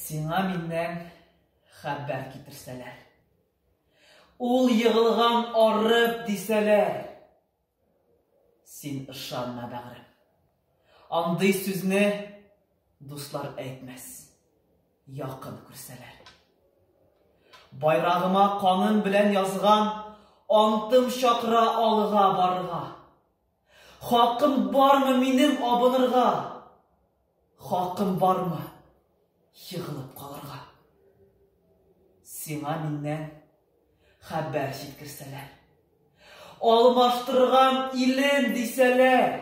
Сиңа миннән хәбәр китерсәләр. Ул егылган арып дисәләр. Син ышанма, бәгърем. Андый сүзне дуслар әйтмәс. Якын күрсәләр. Байрагыма каным белән язган антым чакыра алга барырга. Хакым бармы минем абынырга? Хакым бармы егылып калырга? Сиңа миннән хәбәр җиткерсәләр. Алмаштырган илен дисәләр.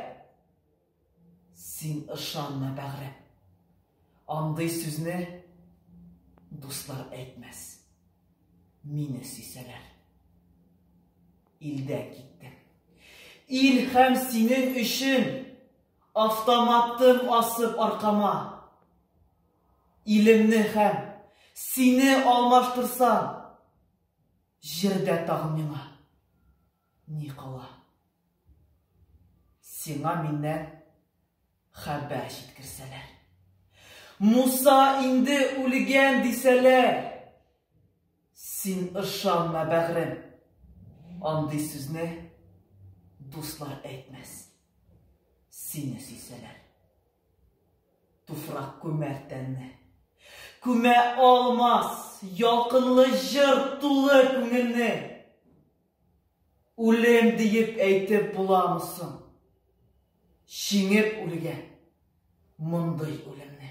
Син ышанма, бәгърем. Андый сүзне дуслар әйтмәс. Мине сөйсәләр. Илдән киттем. Ил һәм синең өчен автоматым асып аркама. Илемне һәм сине алмаштырсам, җирдә тагын миңа ни кала? Сиңа миннән Хәбәр җиткерсәләр. Муса инде үлгән дисәләр. Син ышанма, бәгърем. Андый сүзне дуслар әйтмәс. Сине сөйсәләр. Туфрак күмәр тәнне. Күмә алмас, ялкынлы җыр тулы күңелне. Үлем диеп әйтеп буламы соң? Җиңеп үлгән мондый үлемне.